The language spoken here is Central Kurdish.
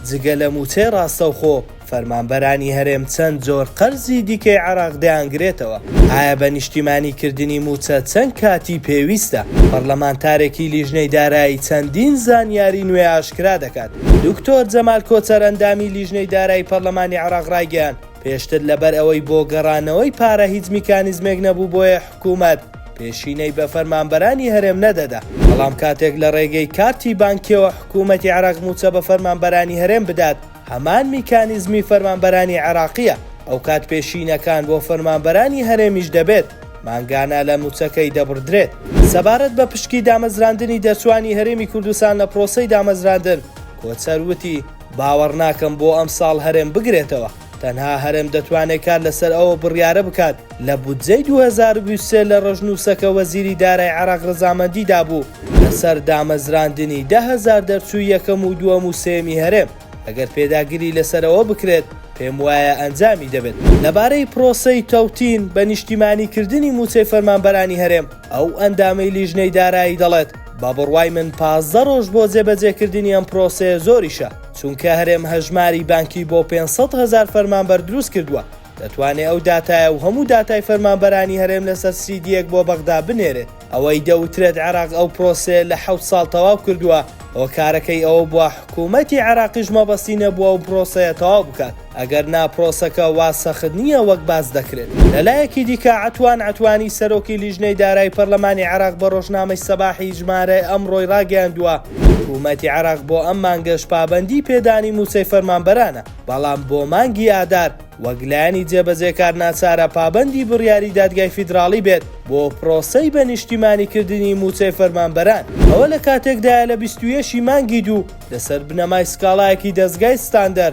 جگە لە مووچەی ڕاستەوخۆ، فەرمانبەرانی هەرێم چەند جۆر قەرزی دیکەی عێراق دەیانگرێتەوە؟ ئایا بە نیشتیمانی کردنی مووچە چەند کاتی پێویستە؟ پەڕلەمانتارێکی لیژنەی دارایی چەندین زانیاری نوێ ئاشکرا دەکات. دکتۆر جەمال کۆچەر ئەندامی لیژنەی دارایی پەڕلەمانی عێراق ڕایگەیاند، پێشتر لەبەر ئەوەی بۆ گەڕانەوەی پارە هیچ میکانیزمێک نەبوو بۆیە حکومەت، پێشینەی بە فەرمانبەرانی هەرێم نەدەدا، بەڵام کاتێک لە ڕێگەی کارتی بانکییەوە حکوومەتی عێراق مووچە بە فەرمانبەرانی هەرێم بدات، هەمان میکانیزمی فەرمانبەرانی عێراقییە، ئەوکات پێشینەکان بۆ فەرمانبەرانی هەرێمیش دەبێت، مانگانە لە مووچەکەی دەبڕدرێت. سەبارەت بە پشکی دامەزراندنی دەرچووانی هەرێمی کوردستان لە پرۆسەی دامەزراندن، کۆچەر وتی، باوەڕناکەم بۆ ئەمساڵ هەرێم بگرێتەوە، تەنها هەرێم دەتوانێت کار لەسەر ئەو بڕیارە بکات، لە بودجەی دوو هەزار و بیست و سێ لە ڕەشنووسە کە وەزیری دارای عێراق ڕەزامەندی دابوو لەسەر دامەزراندنی دە هەزار دەرچووی یەکەم و دووەم و سێیەمی هەرێم، ئەگەر پێداگری لەسەر ئەوە بکرێت، پێموایە ئەنجامی دەبێت. لەبارەی پرۆسەی تەوتین بە نیشتیمانی کردنی مووچەی فەرمانبەرانی هەرێم، ئەو ئەندامەی لیژنەی دارایی دەڵێت، بە بڕوای من پازدە ڕۆژ بۆ جێبەجێکردنی ئەم پرۆسەیە زۆریشە، چونکە هەرێم هەژماری بانکی بۆ پێنج سەد هەزار فەرمانبەر دروست کردووە، دەتوانێ ئەو داتایە و هەموو داتای فەرمانبەرانی هەرێم لەسەر سیدییەک بۆ بەغدا بنێرێت. ئەوەی دەوترێت عێراق ئەو پرۆسەیە لە حەوت ساڵ تەواو کردووە، هۆکارەکەی ئەوە بووە حکوومەتی عێراقیش مەبەستی نەبووە ئەو پرۆسەیە تەواو بکات. ئەگەر نا پرۆسەکە وا سەخت نییە وەک باس دەکرێت. لە لایەکی دیکە عەتوان عەتوانی سەرۆکی لیژنەی دارای پەرلەمانی عێراق بە رۆژنامەی سەباحی ژمارە ئەمڕۆی راگەیاندووە، حکومەتی عێراق بۆ ئەم مانگەش پابەندی پێدانی مووچەی فەرمانبەرانە، بەڵام بۆ مانگی ئادار وەک لایەنی جێبەجێکار ناچارە پابەندی بڕیاری دادگای فیدراڵی بێت بۆ پرۆسەی بە نیشتیمانی کردنی مووچەی فەرمانبەران. ئەوە لە کاتێکدایە لە بیست و یەک ی مانگی دوو لەسەر بنەمای سکاڵایەکی دەزگای ستاندەر،